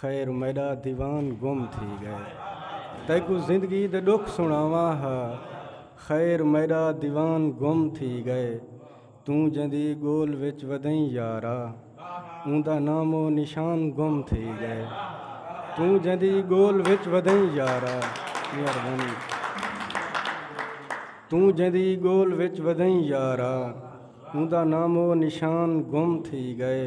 خیر میڈا دیوان گم تھی گئے تیکو زندگی دے ڈکھ سناواں ہا خیر میڈا دیوان گم تھی گئے توں جندی گول وچ ودیں یارا اوندا نام و نشان گم تھی گئے توں جندی گول وچ ودیں یارا مہربانی توں جندی گول وچ ودیں یارا اوندا نام و نشان گم تھی گئے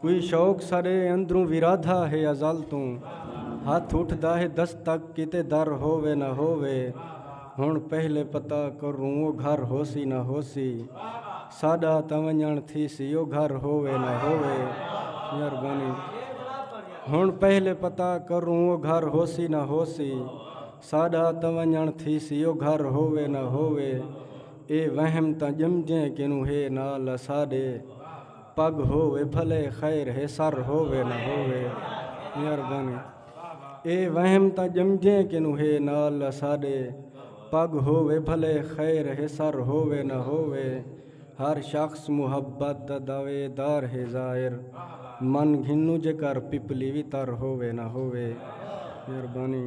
کوئی شوق ساڈے اندروں ورادھا ہے ازل توں ہتھ اٹھدا ہے دستک کیتے در ہووے نہ ہووے ہن پہلے پتہ کروں او گھر ہوسی نہ ہوسی ساڈا تاں ونجن تھیسی او گھر ہووے نہ ہووے مہربانی ہن پہلے پتہ کروں او گھر ہوسی نہ ہوسی ساڈا تاں ونجن تھیسی او گھر ہووے نہ ہووے اے وہم تاں جمجیں کنوں ہے نال اساڈے پڳ ہووے بھلے خیر ہے سر ہووے نہ ہووے مہربانی اے وہم تا جمجے کنو ہے نال اساڈے پگ ہووے بھلے خیر ہے سر ہووے نہ ہووے ہر شخص محبت دا دعوے دار ہے ظاہر من گھنوں جے کر پپلی وی تر ہووے نہ ہووے مہربانی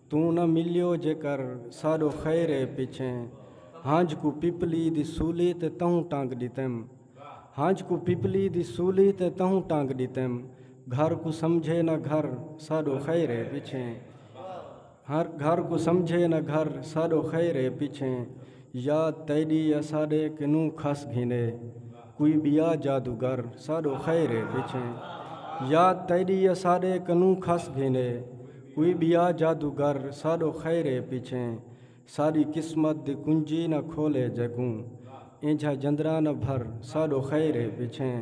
توں نہ ملیو جے کر ساڈو خیر اے پچھیں ہنج کوں پپلی دی سولی تے تہوں ٹنگ ڈتیم ہنج کوں پپلی دی سولی تے تہوں ٹنگ ڈتیم گھر کوں سمجھے نہ گھر ساڈو خیر اے پچھیں گھر کوں سمجھے نہ گھر ساڈو خیر اے پچھیں یا تیݙی اساݙے کنوں کھس گھینے کوئی ٻیا جادوگر ساݙو خیر ہے پچھیں یا تیݙی اساݙے کنوں کھس گھینے کوئی ٻیا جادوگر ساݙو خیر ہے پچھیں ساݙی قسمت دی کنجی نہ کھولے جیکوں اینجھا جندرا نہ بھر ساݙو خیر ہے پچھیں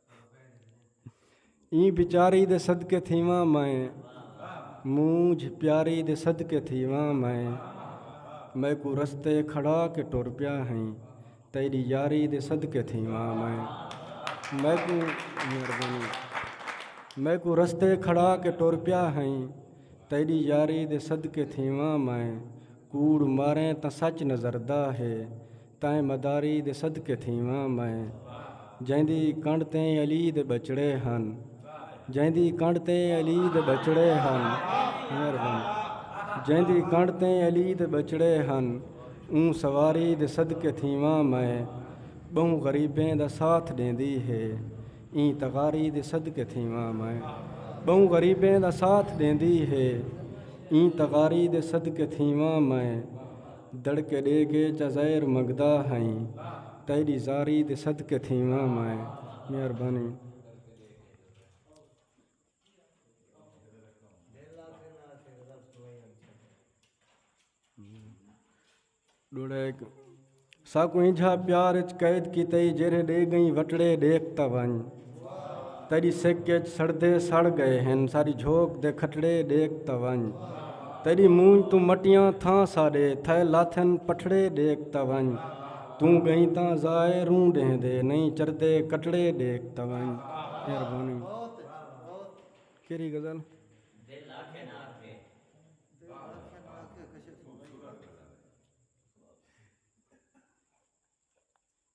ایں پیچاری دے صدقے تھیواں میں مونجھ پیاری دے صدقے تھیواں میں میکو رستے کھڑا کے ٹر پیا ہیں تیری یاری دے صدقے تھیواں میں میکو میکو رستے کھڑا کے ٹر پیا ہیں تیری یاری دے صدقے تھیواں میں کوڑ ماریں تاں سچ نظردہ ہے تائیں مداری دے صدقے تھیواں میں جیندی کنڈ تے علی دے بچڑے ہن جیندی کنڈ تے علی دے بچڑے ہن مہربان جیندی کنڈ تے علی دے بچڑے ہن اوں سواری دے صدقے تھیواں میں بہوں غریبیں دا ساتھ ڈیندی ہے ایں تغاری دے صدقے تھیواں میں بہوں غریبیں دا ساتھ ڈیندی ہے ایں تغاری دے صدقے تھیواں میں دڑکے ڈے کے جزائر منگدا ہئیں تیڈی زاری دے صدقے تھیواں میں مہربانی۔ ساکوں انجھا پیار اچ قید کیتے جیرھے ڈے گئیں وٹڑے ڈیکھ تاں ونج۔ تیݙی سک اچ سڑدے سڑ گئے ہن ساری جھوک دے کھٹڑے ڈیکھ تا ونج تیݙی مونج تو مٹیاں تھاں ساڈے تھے لاتھن پٹھڑے ڈیکھ تا ونج توں گئیں تاں ضائے روں ڈینہ دے نہیں چردے کٹڑے ڈیکھ تا ونج مہربانی کیری غزل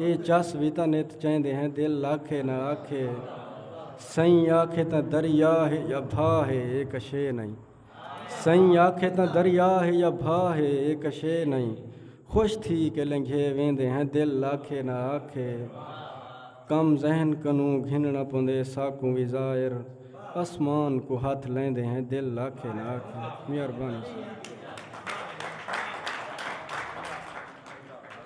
اے چس وی تاں نت چیندے ہیں دل آکھے نہ آکھے سئیں آکھے تاں دریا ہے یا بھا ہے اے کشے نئیں سئیں آکھے تاں دریا ہے یا بھا ہے اے کشے نئیں خوش تھی کے لنگھے ویندے ہیں دل آکھے نہ آکھے کم ذہن کنوں گھننا پوندے ساکوں وی ظاہر اسمان کو ہتھ لیندے ہیں دل آکھے نہ آکھے مہربانی